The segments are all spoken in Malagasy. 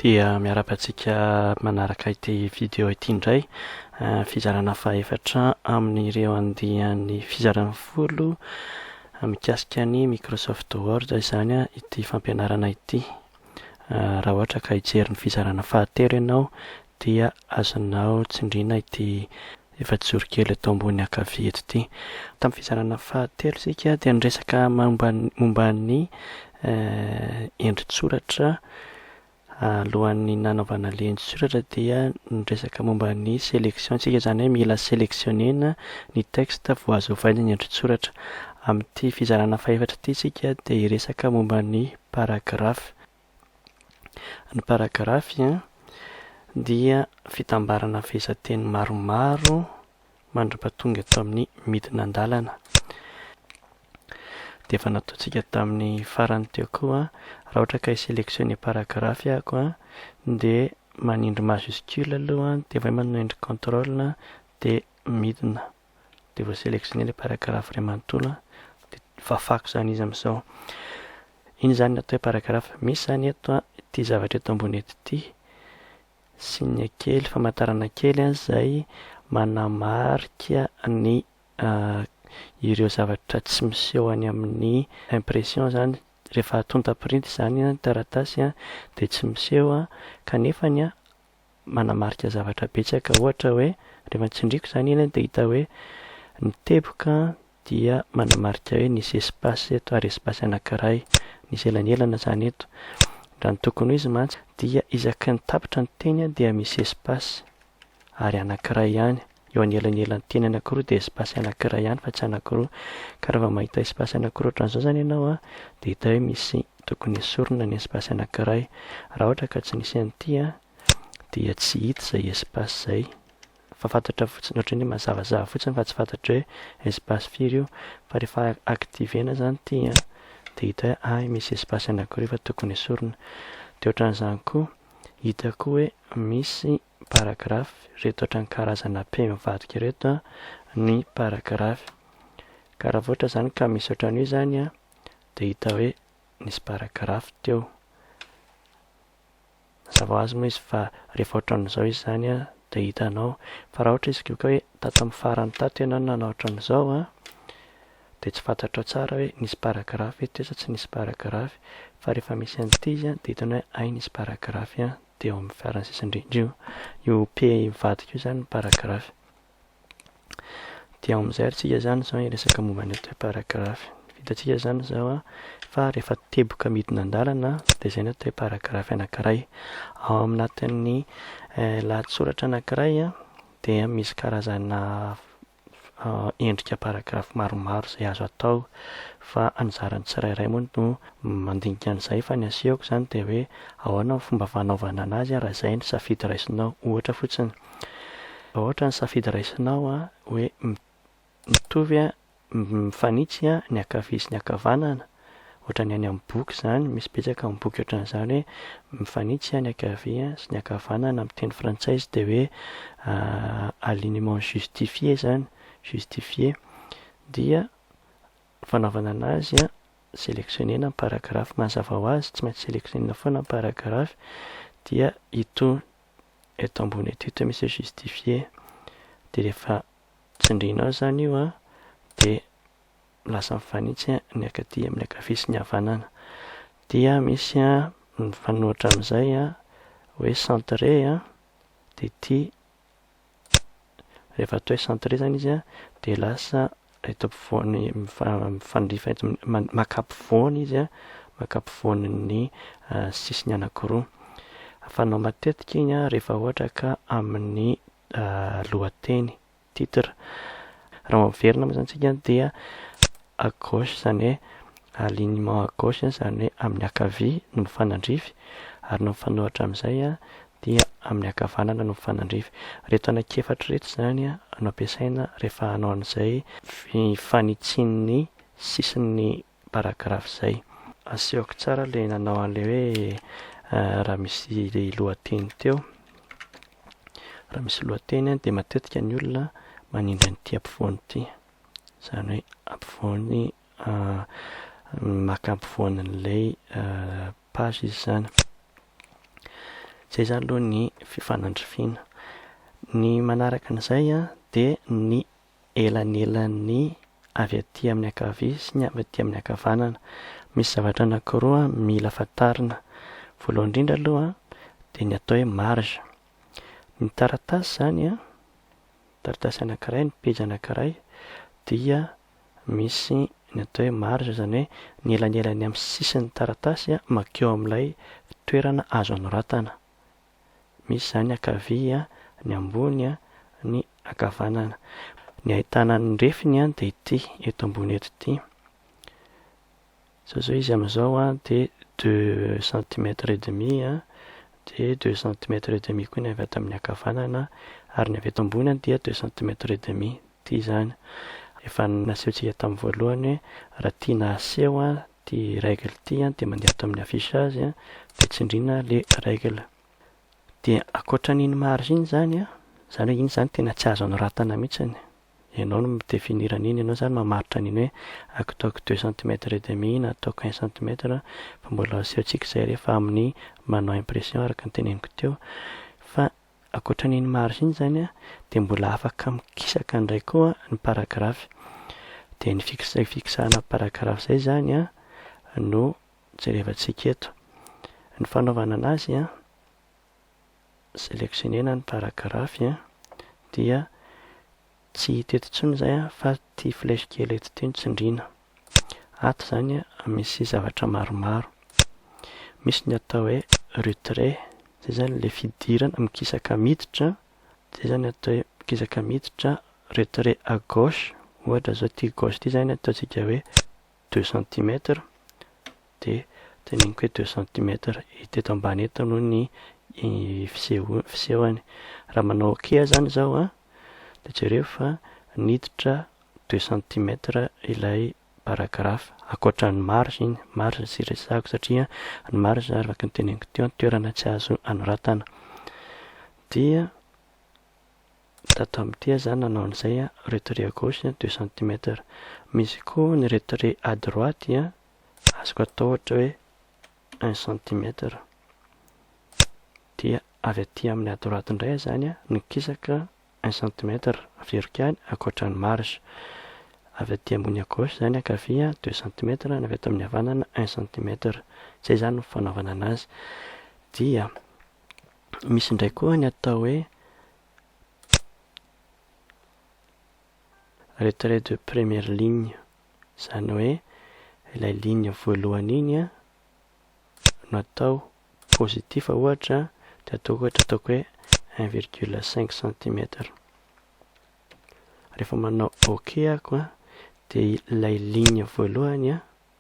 dia miaraka antsika manaraka ity video ity indray eh, fizarana fahefatra amin'ireo andihan'ny fizaran'ny folo eh, mikasika ny Microsoft Word izany eh, ity fampianarana ity raha ohatra ka hijery ny fizarana fahatelo ianao dia azonao tsindrina ity Efajoro kely eto ambony ankavia eto ity. Tamin'ny fizarana fahatelo isika dia niresaka momba ny momba ny endri-tsoratra alohan'ny nanaovana ilay endri-tsoratra dia niresaka momba ny selection isika izany hoe mila selectionner-na ny texte vao azo ovaina ny endri-tsoratra. Amin'ity fizarana fahefatra ity isika dia hiresaka momba ny paragraphe. Ny paragrafy dia fitambarana fehezanteny maromaro mandra-pahatonga eto amin'ny midina an-dalana. Dia efa nataontsika tamin'ny farany teo koa, raha ohatra ka hi-selectionner paragrafy aho dia manindry majuscule aloha dia avy eo manindry control dia midina. dia vao sélectionné ilay paragraphe iray manontolo dia fafako izany izy amin'izao iny izany ny atao hoe paragraphe misy izany eto an ity zavatra eto ambony eto ity signe kely famantarana kely an izay manamarika ny ah, ireo zavatra tsy miseho any amin'ny impression izany rehefa atonta printy izany an taratasy an dia tsy miseho an kanefa ny an manamarika zavatra betsaka ohatra hoe rehefa tsindriako izany iny dia hita hoe ny teboka dia manamarika hoe nisy espace eto ary espace anankiray nisy elanelana izany eto raha ny tokony ho izy mantsy dia isaky ny tapitra ny teny dia misy espace ary anankiray ihany eo anelanelan'ny teny anankiroa dia espace anankiray ihany fa tsy anankiroa ka raha vao mahita espace anankiroa ohatran'izao izany ianao a dia hita hoe misy tokony esorina ny espace anankiray raha ohatra ka tsy nisy an'ity a dia tsy hita izay espace izay fa fantatra fotsiny ohatran'ny hoe mazavazava fotsiny fa tsy fantatra hoe espace firy io fa rehefa activena izany ity a dia hita hoe ay misy espace anankiroa efa tokony esorina dia ohatran'izany koa hita koa hoe misy paragrafy ireto ohatran'ny karazana pe mivadika ireto ny paragrafy ka raha vao ohatra izany ka misy ohatran'io izany a dia hita hoe nisy paragrafy teo mazava ho azy moa izy fa rehefa ohatran'izao izy izany a dia hitanao fa raha ohatra izy ko ka hoe tato amin'ny farany tato ianao nanao ohatran'izao a dia tsy fantatrao tsara hoe nisy paragrafy teo sa tsy nisy paragrafy fa rehefa misy an'ity izy a dia hitanao hoe hay nisy paragrafy a dia eo amin'ny farany sisa indrindra io io p mivadika io zany ny paragraphe dia ao amin'izay ary tsika zany zao hiresaka momba ny atao hoe paragraphe ny vitantsika zany zao a fa rehefa teboka midina an-dalana dia zay ny atao hoe paragraphe anankiray ao anatin'ny lahatsoratra anankiray a dia misy karazana endrika paragraphe maromaro izay azo atao fa anjaran'ny tsirairay moa no mandinika an'izay fa ny asehoko izany dia hoe ahoana ny fomba fanaovana an'azy raha izay ny safidy raisinao ohatra fotsiny raha ohatra ny safidy raisinao hoe mitovy mifanitsy ny ankavia sy ny ankavanana ohatran'ny any amin'ny boky izany, misy betsaka amin'ny boky ohatran'izany hoe mifanitsy aho ny ankavia sy ny ankavanana amin'ny teny frantsay izy dia hoe alignement justifié izany, justifié, dia fanaovana an'azy a, sélectionner-na ny paragraphe mazava ho azy, tsy maintsy sélectionner-na foana ny paragraphe, dia ito eto ambony eto ito misy hoe justifié, dia rehefa tsindrianao izany io a, dia lasa mifanitsy ny akaty amin'ny ankavia sy ny havanana. Dia misy mifanohitra amin'izay hoe centre dia ity rehefa atao hoe centre izany izy dia lasa eto ampovoany mifandrifa eto maka ampovoany izy maka ampovoan'ny sisiny anankiroa. Fanao matetika iny rehefa ohatra ka amin'ny lohateny. titre raha mampiverina moa zany tsika dia à gauche zany hoe alignement à gauche zany hoe amin'ny ankavia no mifanandrify ary ny mifanohitra amin'izay dia amin'ny ankavanana no mifanandrify. Ireto anankiefatra ireto izany no ampiasaina rehefa hanao an'izay fanitsian'ny sisin'ny paragraphe izay. Asehoko tsara ilay nanao an'ilay hoe raha misy lohateny teo. Raha misy lohateny dia matetika ny olona manindry an'ity ampovoany ity. Izany hoe ampovoany maka ampovoany an'ilay page izy izany. Izay izany aloha ny fifanandrifiana. Ny manaraka an'izay dia ny elanelan'ny avy aty amin'ny ankavia sy ny avy aty amin'ny ankavanana. Misy zavatra anankiroa mila fantarina. Voalohany indrindra aloha dia ny atao hoe marge. Ny taratasy izany, taratasy anankiray, ny pejy anankiray dia misy ny atao hoe marge, izany hoe ny elanelan'ny amin'ny sisin'ny taratasy mankeo amin'ilay toerana azo anoratana. Misy izany ankavia, ny ambony, ny ankavanana. Ny ahitana ny refiny dia ity eto ambony eto ity. Izao izao izy amin'izao dia deux centimètres et demi dia deux centimètres et demi koa ny avy ato amin'ny ankavanana ary ny avy eto ambony dia deux centimètres et demi. Ity izany. Efa nasehontsika tamin'ny voalohany hoe raha tiana haseho ty règle ty an dia mandeha ato amin'ny affichage an dia tsindriana le règle dia ankoatran'iny marge iny zany an zany hoe iny zany tena tsy azo anoratana mihitsiny ianao no mi-definir an'iny ianao zany mamaritra an'iny hoe aktaoko deux centimètre et demi na ataoko un centimètre fa mbola asehontsika izay rehefa amin'ny manao impression araka ny teneniko teo fa Ankoatra an'iny marge iny izany dia mbola afaka mikisaka indray koa ny paragraphe. Dia ny fixe fixena paragraphe izay izany no jerevantsika eto. Ny fanaovana an'azy, selectionner-na ny paragraphe dia. Tsy hita eto intsony izay an, fa ity flèche kely eto ity no tsindriana. Ato izany misy zavatra maromaro. Misy ny atao hoe retrait, izay izany ilay fidirana, mikisaka miditra, izay izany atao hoe mikisaka miditra, retrait à gauche, ohatra izao ity gauche ity izany ataontsika hoe. deux centimètres dia teneniko hoe deux centimètres hita eto ambany eto aloha ny fiseho- fisehony raha manao ok zany izao a dia jereo fa niditra deux centimètres ilay paragraphe ankoatra ny marge iny marge tsy resahako satria ny marge araka ny teneniko teo toerana tsy azo anoratana dia Tato amin'ity aho izany nanao an'izay an, retrait à gauche an, deux centimètres. Misy koa ny retrait à droite an, azoko atao ohatra hoe un centimètre. Dia avy aty amin'ny à droite indray aho izany an, ny kisaka un centimètre, averiko ihany, ankoatra ny marge. Avy aty ambony à gauche izany ankavia an, deux centimètres, ny avy ato amin'ny havanana un centimètre. Izay izany ny fanaovana an'azy. Dia. Misy indray koa ny atao hoe retrait de première ligne, izany hoe ilay ligne voalohany iny an, no atao positif ohatra dia ataoko ohatra ataoko hoe un virgule cinq centimètre. Rehefa manao ok ako an dia ilay ligne voalohany an,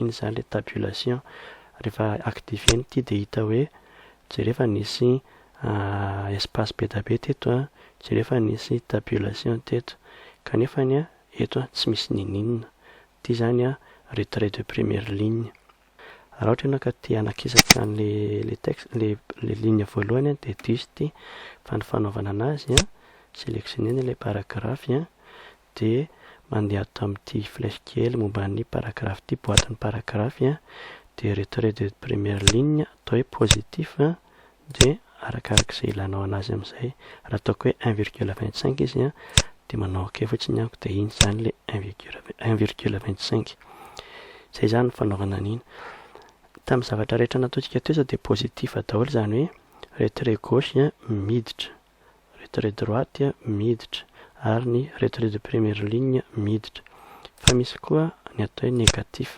iny izany ilay tabulation rehefa activer ny ity dia hita hoe jereo fa nisy espace be dia be teto an, jereo fa nisy tabulation teto kanefa ny an eto an tsy misy ninininona, ity izany an retrait de première ligne, raha ohatra ianao ka te hanakisaka an'ilay texte, ilay ligne voalohany an dia diso ity fa ny fanaovana an'azy an selectionner-na ilay paragraphe an dia mandeha ato amin'ity flèche kely momba ny paragraphe ity, boatin'ny paragraphe, dia retrait de première ligne atao hoe positif, dia arakaraka izay ilanao anazy amin'izay, raha ataoko hoe un virgule vingt cinq izy dia manao ok fotsiny aho dia iny izany ilay un virgule vingt un virgule vingt cinq, izay izany ny fanaovana an'iny. Tamin'ny zavatra rehetra nataontsika teo izao dia positif daholo izany hoe retrait gauche miditra, retrait droite miditra ary ny retrait de première ligne miditra fa misy koa ny atao hoe négatif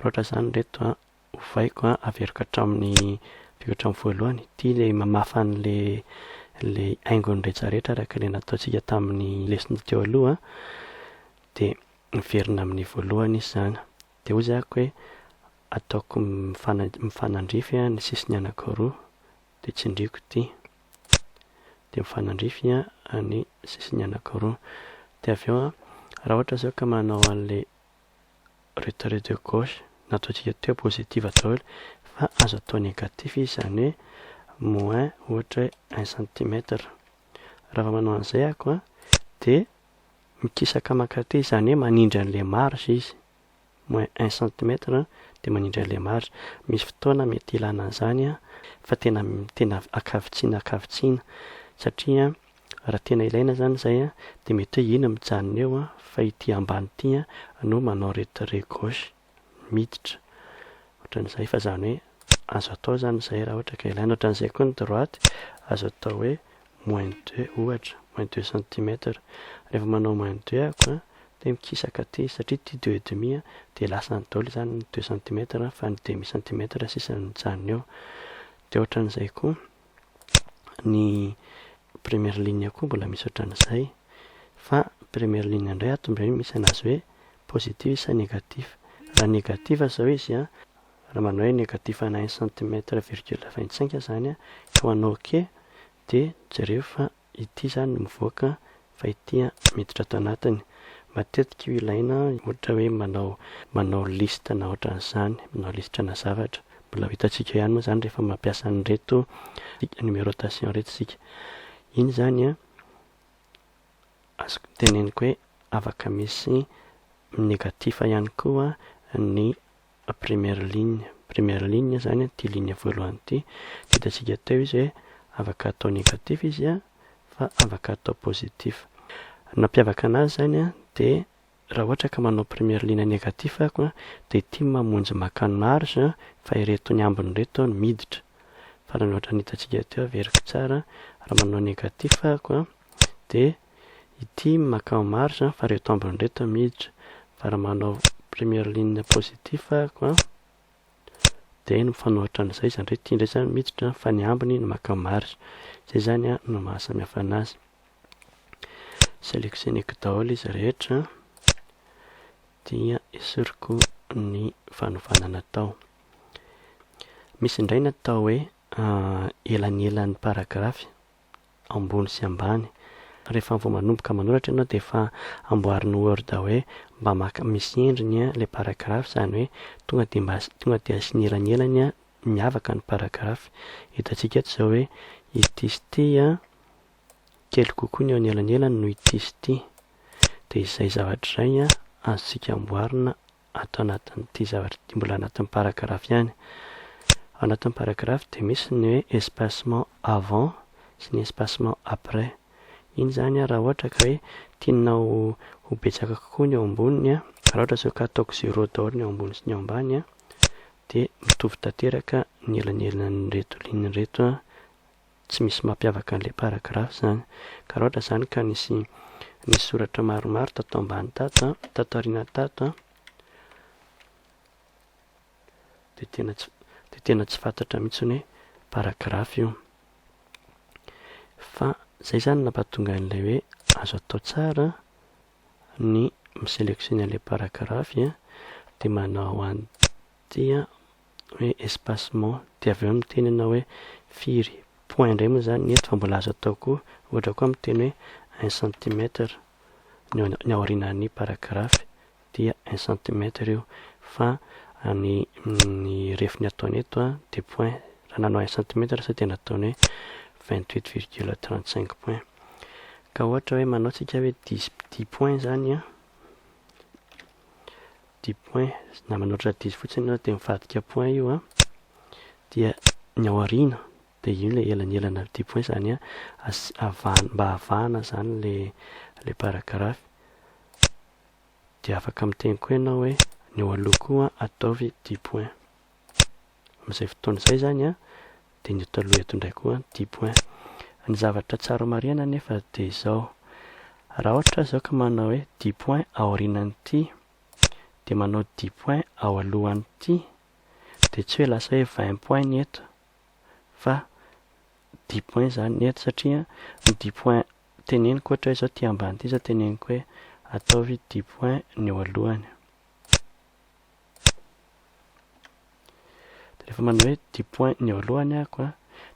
roatra zany reto a ovaiko a averiko hatramin'ny averiko hatramin'ny voalohany ity le mamafa an'le le haingony rehetrarehetra araka le nataontsika tamin'ny lesona teo aloha de miverina amin'ny voalohany izy zany de hoy zako hoe ataoko mifanandrify ny sisiny anakiroa dia tsindriako ity dia mifanandrify ny sisiny anakiroa dia avy eo raha ohatra zao ka manao an'ilay retrait de gauche nataontsika teo positive daholo fa azo atao négatif izy izany hoe moins ohatra hoe un centimètre raha vao manao an'izay ako dia mikisaka mankaty izany hoe manindry an'ilay marge izy moins un centimètre dia manindry an'ilay marge. Misy fotoana mety ilana an'izany fa tena tena ankavitsiana ankavitsiana satria raha tena ilaina izany izay dia mety hoe iny mijanona eo fa ity ambany ity no manao retrait gauche miditra ohatran'izay fa izany hoe azo atao izany izay raha ohatra ka ilaina. Ohatran'izay koa ny droite azo atao hoe moins deux ohatra, moins deux centimètres, rehefa manao moins deux ako an, dia mikisaka aty, satria ity deux et demi an, dia lasany daholo izany ny deux centimètres an, fa ny demi centimètre sisa no mijanona eo, dia ohatran'izay koa ny première ligne koa mbola misy ohatran'izay, fa première ligne indray ato indray misy anazy hoe positif sa négatif, raha négatif izao izy an, raha manao hoe negatif ana un centimètre virgule vingt cinq izany an, koa manao ok dia jereo fa ity izany no mivoaka fa ity an miditra ato anatiny, matetika io ilaina ohatra hoe manao manao liste na ohatran'izany, manao listre na zavatra, mbola ho hitantsika ihany moa izany rehefa mampiasa an'ireto numerotation ireto isika, iny izany an azoko teneniko hoe afaka misy negatif ihany koa ny Première ligne, première ligne izany ity ligne voalohany ity, dia hitantsika teo izy hoe afaka atao négatif izy an, fa afaka atao positif. Ny mampiavaka anazy izany an, dia raha ohatra ka manao première ligne négatif aho an, dia ity mamonjy maka ny marge an, fa ireto ny ambiny ireto no miditra. Farany ohatran'ny hitantsika teo, averiko tsara an, raha manao négatif aho an, dia i Tim makao marge an, fa reto ambiny reto miditra, fa raha manao première ligne positif ako an, dia mifanohitra an'izay izany hoe ity indray izany miditra fa ny ambiny no makao marge, izay izany an no maha samy hafa an'azy, selectioneko daholo izy rehetra dia esoriko ny fanovana natao, misy indray natao hoe elanelan'ny paragraphe, ambony sy ambany. Rehefa vao manomboka manoratra ianao dia efa amboarin'ny word hoe mba maka misy endriny ilay paragraphe izany hoe tonga dia mba tonga dia asiana elanelany miavaka ny paragraphe. Hitantsika eto izao hoe ity sy ity kely kokoa ny eo anelanelany noho ity sy ity. Dia izay zavatra izay azontsika amboarina ato anatin'ity zavatra ity mbola anatin'ny paragraphe ihany. Ao anatin'ny paragraphe dia misy ny hoe espacement avant sy ny espacement après. Iny izany raha ohatra ka hoe tianao ho betsaka kokoa ny ao amboniny, raha ohatra izao ka ataoko zéro daholo ny ao ambony sy ny ao ambany dia mitovy tanteraka ny elanelan'ireto ligne ireto tsy misy mampiavaka an'ilay paragraphe zany ka raha ohatra izany ka nisy nisy soratra maromaro tato ambany tato an tato aoriana tato an dia tena tsy dia tena tsy fantatra mihitsy hoe paragraphe io fa zay zany nampatonga an'ilay hoe azo atao tsara ny miselectionner an'ilay paragraphe dia manao an'ity an hoe espacement dia avy eo miteny ianao hoe firy point indray moa izany ny eto fa mbola azo atao koa ohatra koa miteny hoe un centimètre ny eo ny aorianan'ny paragraphe dia un centimètre io fa ny ny refiny ataony eto a dia point raha nanao un centimètre sao dia nataony hoe vingt huit virgule trente cinq point ka ohatra hoe manao tsika hoe dix dix point izany a dix points na manoatra diso fotsiny ianao dia mivadika points io an dia ny ao aoriana dia io ilay elanelana dix points izany an asi- avahana mba avahana izany le le paragraphe dia afaka miteny koa ianao hoe ny eo aloha koa ataovy dix points amin'izay fotoana izay izany an dia ny eto aloha eto indray koa dix point. Ny zavatra tsara marihana anefa dia izao, raha ohatra aho izao ka manao hoe dix point aorianan'ity dia manao dix point ao alohan'ity dia tsy hoe lasa hoe vingt point ny eto fa dix point izany ny eto satria ny dix point teneniko ohatra hoe izao ity ambany ity izao teneniko hoe ataovy dix point ny eo alohany. Rehefa manao hoe dix points ny eo alohany aho an,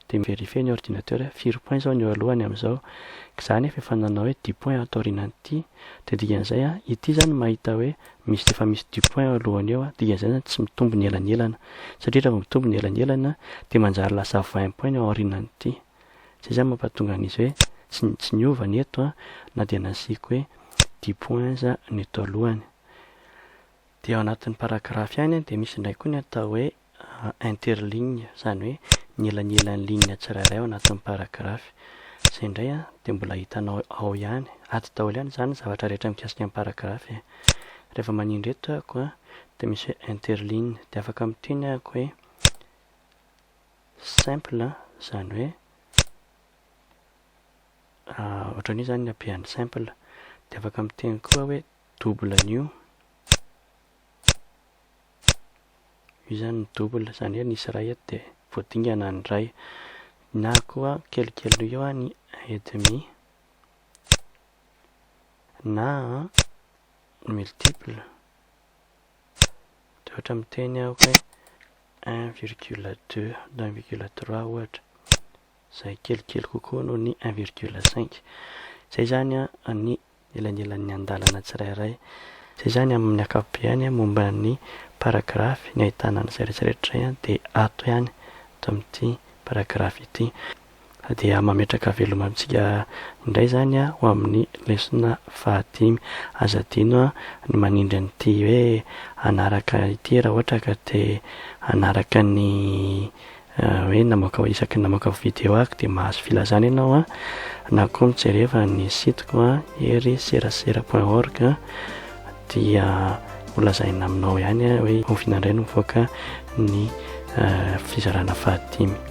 dia mi-verifier ny ordinateur hoe firy points izao ny eo alohany amin'izao. Izaho anefa efa nanao hoe dix points ato aorianan'ity, dia dikan'izay an, ity izany mahita hoe misy efa misy dix points eo alohany eo an, dikan'izay izany tsy mitombo ny elanelana. Satria raha vao mitombo ny elanelana dia manjary lasa vingt points ny ao aorianan'ity. Izay izany mampahatonga an'izy hoe tsy tsy niova ny eto an, na dia nasiako hoe dix points aza ny eto alohany. Dia ao anatin'ny paragraphe ihany dia misy indray koa ny atao hoe interligne, izany hoe ny elanelan'ny ligne tsirairay ao anatin'ny paragraphe. Izay indray dia mbola hitanao ao ihany. Ady daholo ihany izany ny zavatra rehetra mikasika ny paragraphe e. Rehefa manindry eto aho dia misy hoe interligne, dia afaka miteny aho hoe simple, izany hoe ohatran'ny hoe izany ny habehan'ny simple. Dia afaka miteny koa aho hoe double an'io. Io izany ny double, izany hoe nisy iray eto dia voadingana ny iray. Na koa kelikely noho io ny un et demi na multiple dia ohatra miteny aho hoe un virgule deux na un virgule trois ohatra. izay kelikely kokoa noho ny un virgule cinq. Izay izany ny elanelan'ny andalana tsirairay. Izay izany amin'ny ankapobeany momba ny paragrafy, ny ahitana an'izay rehetrarehetra izay dia ato ihany, ato amin'ity paragrafy ity. Fa dia mametraka veloma amintsika indray izany ho amin'ny lesona fahadimy. Aza adino ny manindry an'ity hoe hanaraka ity raha ohatra ka te hanaraka ny hoe namoaka isaky ny namoaka video aho dia mahazo filazana ianao a na koa mijereva ny sitiko a hery serasera point org dia holazaina aminao ihany a hoe oviana indray no mivoaka ny eh, fizarana fahadimy